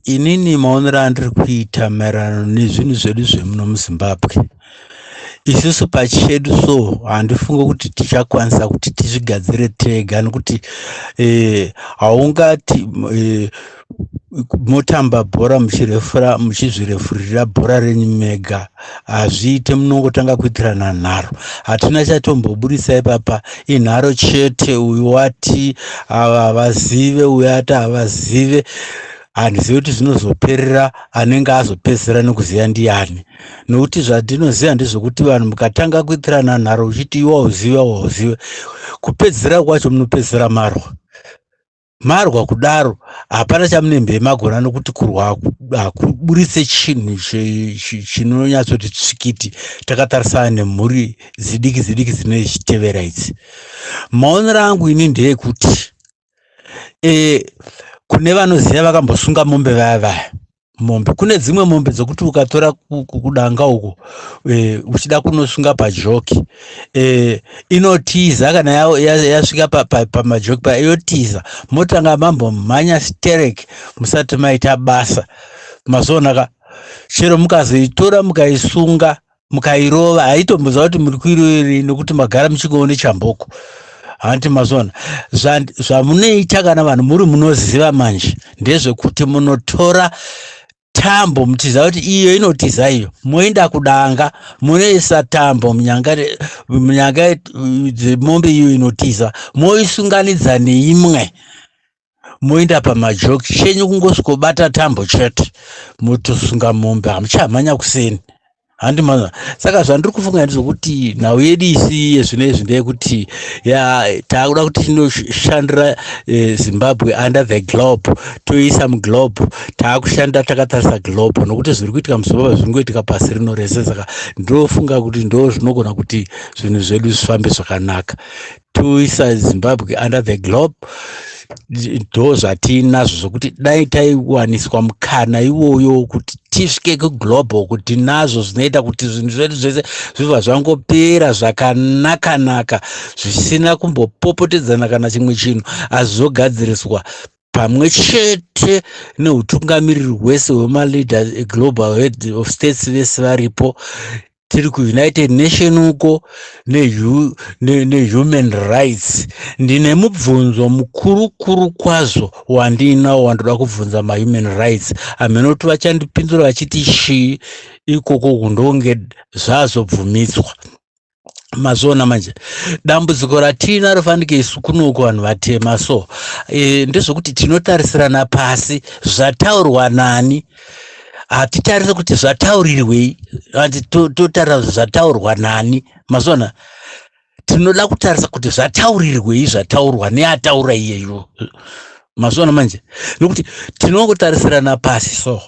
inini maonero andiri kuita maererano nezvinhu zvedu zvemuno muzimbabwe isusu pachedu so handifunge kuti tichakwanisa kuti tizvigadzire tega nokuti eh, haungati eh, motamba bhora muchirefura muchizvirefurira bhora renyu mega hazviite munongotanga kuitirana nharo hatina chatomboburitsa ipapa inharo chete uyu wati ava havazive uyu ati havazive handizivi kuti zvinozoperera anenge azopedzisira nekuziva ndiyani nokuti zvandinoziva ndezvekuti vanhu mukatanga kuitirana nharo uchiti iwa uzive wauzive kupedzisira kwacho munopedzisira marwa marwa kudaro hapana chamunembe magona nokuti kurwa hakuburitse chinhu chinonyatsoti tsvikiti takatarisana nemhuri zidiki zidiki dzine chitevera idzi maonero angu ini ndeyekuti e, kune vanoziva vakambosunga mombe vaya vaya mombe kune dzimwe mombe dzokuti ukatora kudanga uko e, uchida kunosunga pajoki e, inotiza kana yasvika ya, ya pamajoki pa, pa, pa yotiza motanga mambo mhanya sterek musati maita basa mazoonaka chero mukazoitora mukaisunga mukairova haitomboziva kuti muri kuiroverei nokuti magara muchingoone chamboko hanti mazona zvamunoita kana vanhu muri munoziva manje ndezvekuti munotora tambo muchiziva kuti iyo inotiza iyo moenda kudanga munoisa tambo munyanga munyanga dzemombe iyo inotiza moisunganidza neimwe moenda pamajoki chenyu kungosvikobata tambo chete motosunga mombe hamuchamhanya kuseni handi mwana saka zvandiri kufunga ndizvokuti nhau yedu isiye zvino izvi ndeyekuti ya taakuda kuti tinoshandira eh, zimbabwe under the globe toiisa muglobe taakushanda takatarisa globe nokuti zviri kuitika muzimbabwe zviri ngoitika pasi rino rese saka ndofunga kuti ndo zvinogona kuti zvinhu zvedu zvifambe zvakanaka toisa zimbabwe under the globe ndo zvatinazvo zvokuti dai taiwaniswa mukana iwoyo wokuti tisvike kuglobal kuti nazvo zvinoita kuti zvinhu zvedu zvese zvibva zvangopera zvakanakanaka zvisina kumbopopotedzana kana chimwe chinhu asi zvogadziriswa pamwe chete neutungamiriri hwese hwemaleaders eglobal head of states vese varipo tiri kuunited nation uko nehuman ne, ne rights ndine mubvunzo mukuru kuru kwazvo wandiinawo wandoda kubvunza mahuman rights amene kuti vachandipindura vachiti shii ikoko kundonge zvazobvumidzwa mazviona manje dambudziko ratiina rofanike isu kunoko vanhu vatema so e, ndezvokuti tinotarisirana pasi zvataurwa nani hatitarise kuti zvataurirwei anti totarira to zvataurwa nani mazona tinoda kutarisa kuti zvataurirwei zvataurwa neataura iyeyo mazona manje nokuti tinongotarisirana pasi so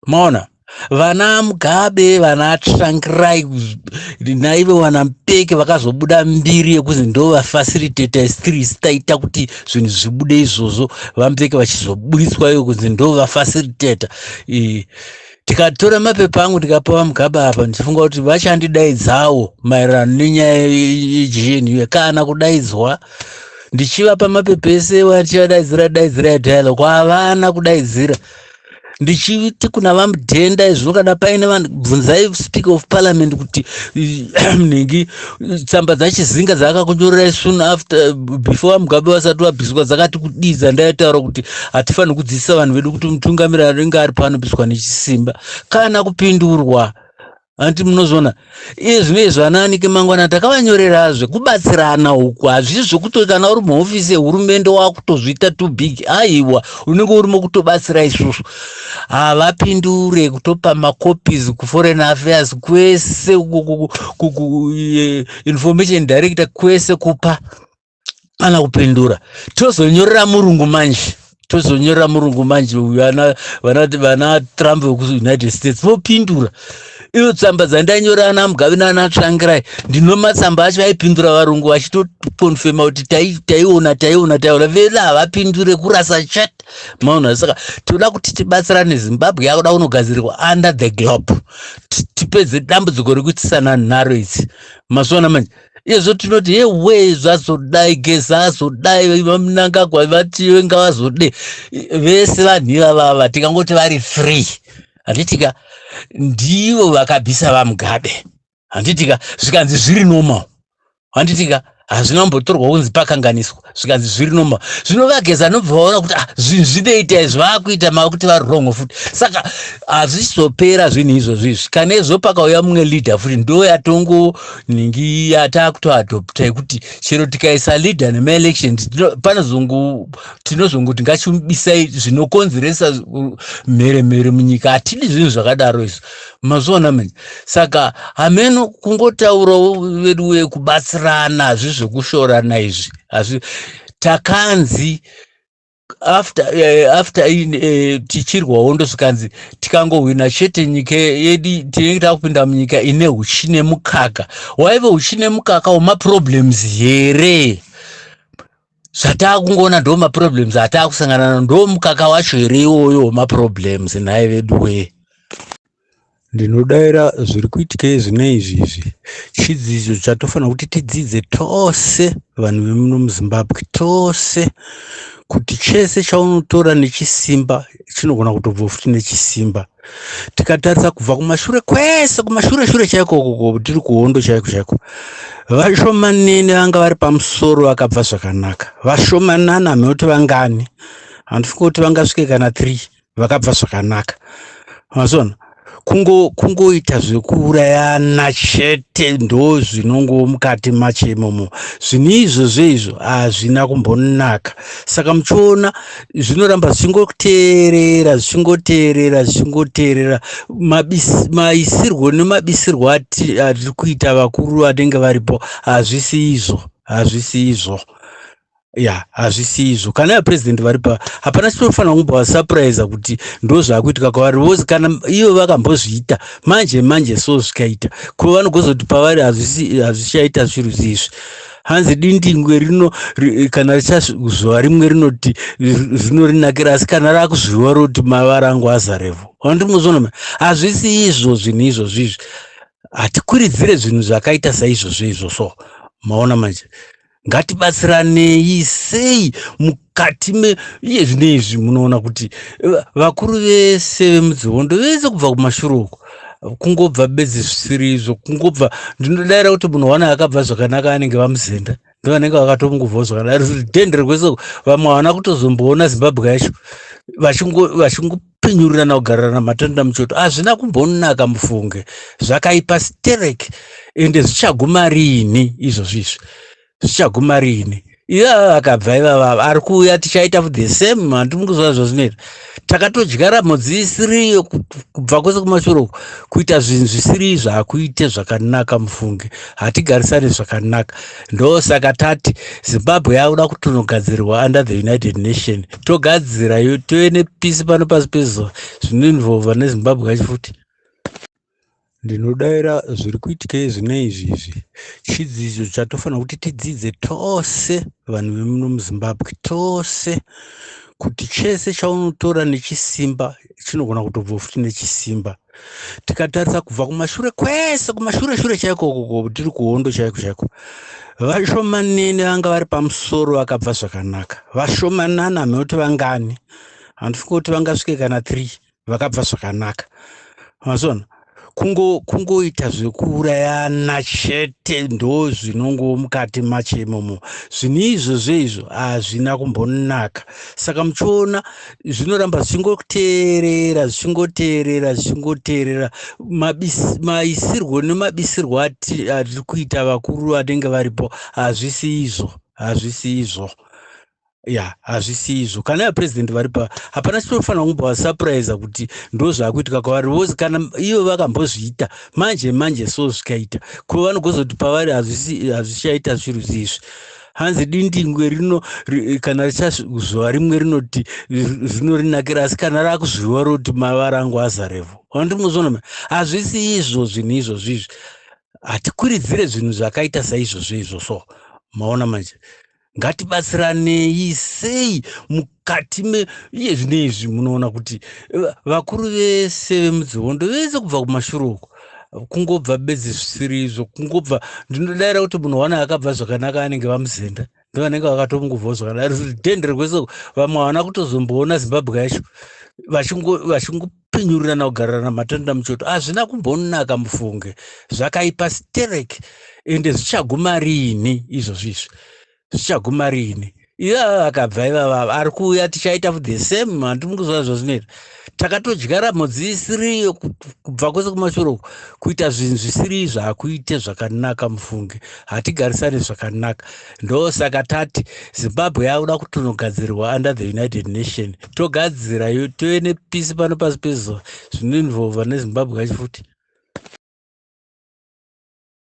maona vana mugabe vana trankirai naive wana mpeke vakazobuda mbiri yekuzi ndovafacilitator stress taita kuti zvinhu zvibude izvozvo vambeke vachizoburitswa iyo kunzi ndo vafacilitator tikatora mapepa angu tikapa vamugaba apa ndichifunga kuti vachandidaidzawo maererano nenyaya yegnu kana kudaidzwa ndichivapa mapepa ese vachivadaidzira daidzira yadhayalo kwavana kudaidzira ndichiti kuna vamudhenda izvino kana paine vanhu bvunzai speaker of parliament kuti nhingi tsamba dzachizinga dzaakakunyorerai soon after before vamugabe vasati vabviswa dzakati kudii dzandaitaura kuti hatifaniri kudzidzisa vanhu vedu kuti mutungamiri anenge ari pano bviswa nechisimba kana kupindurwa hanti munozviona iye zvino izvo anaanike mangwana takavanyorerazve kubatsirana uku hazvii zvekuti kana uri muhofisi yehurumende wakutozviita too big aiwa unenge uri mokutobatsira isusu havapindure kutopa macopies kuforeign affairs kwese information director kwese kupa ana kupindura tozonyorera murungu manje tozonyorera murungu manje vana vana vana trump vekuunited states vopindura iyo tsamba dzandanyora ana mugavi naana tsvangirai ndino matsamba acho aipindura varungu vachitokonfema kuti taiona taiona taiona vela havapindure kurasa chat maona saka tinoda kuti tibatsirane zimbabwe yakuda kunogadzirirwa under the globe tipedze dambudziko rekuitisana nharo idzi mazuva ana manje izvo tinoti yewee zvazodai geza azodai vamunangagwa vatiwe ngavazode vese vanhu ivavava tikangoti vari free handitika ndivo vakabvisa vamugabe handitika zvikanzi zviri normal handitika hazvina kumbotorwa kunzi pakanganiswa zvikanzi zviri normal zvino vageza nobva vaona kuti ah, zvinhu zvinoita izvi vakuita mava kuti vari wrong futi saka hazvizopera zvinhu izvozvo izvi kana izvo pakauya mumwe leader futi ndo yatongo ningi yataakutoadopta yekuti chero tikaisa leader nemaelection panozongu tinozongoti ngachimubisai zvinokonzeresa mhere mhere munyika hatidi zvinhu zvakadaro izvo mazviona manje saka hameno kungotaurawo vedu wee kubatsirana hazvi zvekushorana izvi hazvi takanzi after uh, after in uh, tichirwa hondo zvikanzi tikangohwina chete nyika yedi tinenge takupinda munyika ine uchi nemukaka waive uchi nemukaka wemaproblems here zvataakungoona ndo maproblems ataakusangana na ndo mukaka wacho here iwoyo wemaproblems nhai vedu wee ndinodaira zviri kuitika izvine izvi izvi chidzidzo chatofanira kuti tidzidze tose vanhu vemuno muzimbabwe tose kuti chese chaunotora nechisimba chinogona kutobva futi nechisimba tikatarisa kubva kumashure kwese kumashure shure chaiko koko tiri kuhondo chaiko chaiko vashomanene vanga vari pamusoro vakabva zvakanaka vashomanana hameno kuti vangani handifunga kuti vangasvike kana three vakabva zvakanaka mazona kungoita zvekuurayana chete ndo zvinongo mukati macho imomo zvinhu izvozvo izvo hazvina kumbonaka saka muchiona zvinoramba zvichingoteerera zvichingoteerera zvichingoteerera maisirwo nemabisirwo atiri kuita vakuru vanenge varipo hazvisi izvo hazvisi izvo ya hazvisi izvo kana vaprezidenti vari pa hapana chinofanira kumbovasapuraiza kuti ndo zvaakuitika kwavari vose kana ivo vakambozviita manje manje so zvikaita ko vanogozoti pavari hazvichaita zviru zizvi hanzi dindingwe rino kana richazviwa rimwe rinoti zvinorinakira asi kana rakuzviwa roti mavara angu azarevo andimuzonoma hazvisi izvo zvinhu izvozvo izvi hatikuridzire zvinhu zvakaita saizvozvo izvozvo maona manje ngatibatsiranei sei mukati meiye zvine izvi munoona kuti vakuru vese vemudzihondo vese kubva kumashuru uko kungobva bedzi zvisiri izvo kungobva ndinodaira kuti munhu wana akabva zvakanaka anenge vamuzenda ndovanenge vakatomungobva zvakanaka ridhende rekwese vamwe havana kutozomboona zimbabwe yacho vachingopinyurirana kugararana matenda muchoto hazvina kumbonaka mufunge zvakaipa sterek ende zvichaguma riini izvozvo izvi zvichaguma riini ivava vakabva ivavava ari kuuya tichaita the same handi mukuziva zvazvinoita takatodyara mhodzi isiriyo kubva kwese kumashure uku kuita zvinhu zvisiri izvo hakuite zvakanaka mufunge hatigarisane zvakanaka ndosaka tati zimbabwe yakuda kutonogadzirwa under the united nation togadzira tove nepisi pano pasi pezuva zvinoinvolva nezimbabwe yacho futi Ndinodaira zviri kuitika izvina izvi izvi chidzidzo chatofanira kuti tidzidze tose vanhu vemuno muzimbabwe tose kuti chese chaunotora nechisimba chinogona kutobva futi nechisimba tikatarisa kubva kumashure kwese kumashure shure chaiko koko tiri kuhondo chaiko chaiko vashomanene vanga vari pamusoro vakabva zvakanaka vashomanana hamekuti vangani handifunga kuti vangasvike kana three vakabva zvakanaka mazona kungo kungoita zvekuurayana chete ndo zvinongo mukati macho imomo zvinhu izvozvo izvo hazvina kumbonaka saka muchiona zvinoramba zvichingoteerera zvichingoteerera zvichingoteerera maisirwo nemabisirwo atiri kuita vakuru vanenge varipo hazvisi izvo hazvisi izvo ya hazvisi izvo kana ya president vari pa hapana chinofanira kumbovasupuraiza kuti ndo zvaakuitika kwavari vose kana ivo vakambozviita manje manje so zvikaita ko vanogozoti pavari hazvichaita zviro zizvi hanzi dindingwe rino kana richazviwa rimwe rinoti zino rinakira asi kana raakuzviwa roti mavara angu azarevo andimuzvonoma hazvisi izvo zvinhu izvozvo izvi hatikwiridzire zvinhu zvakaita saizvozvo izvo so maona manje ngatibatsiranei sei mukati meiye zvine izvi munoona kuti eh, vakuru vese vemudzihondo vese kubva kumashuri uko kungobva bedzi zvisiri izvo kungobva ndinodaira kuti munhu wana akabva zvakanaka anenge vamuzenda ndovanenge vakatomungubvawo zvakanaka dende rekweso vamwe havana kutozomboona zimbabwe yacho vachingo kupinyurirana kugararana matanda muchoto hazvina kumbonaka mufunge zvakaipa sterek ende zvichaguma riini izvozvi izvi zvichaguma riini ivava vakabva ivava ari kuuya tichaita the same handi mukuziva zvazvinoita takatodyara mhodzi isiriyo kubva kwese kumashure uku kuita zvinhu zvisiri izvo hakuite zvakanaka mufunge hatigarisane zvakanaka ndosaka tati zimbabwe yakuda kutonogadzirwa under the united nation togadzira tove nepisi pano pasi pezuva zvinoinvolva nezimbabwe yacho futi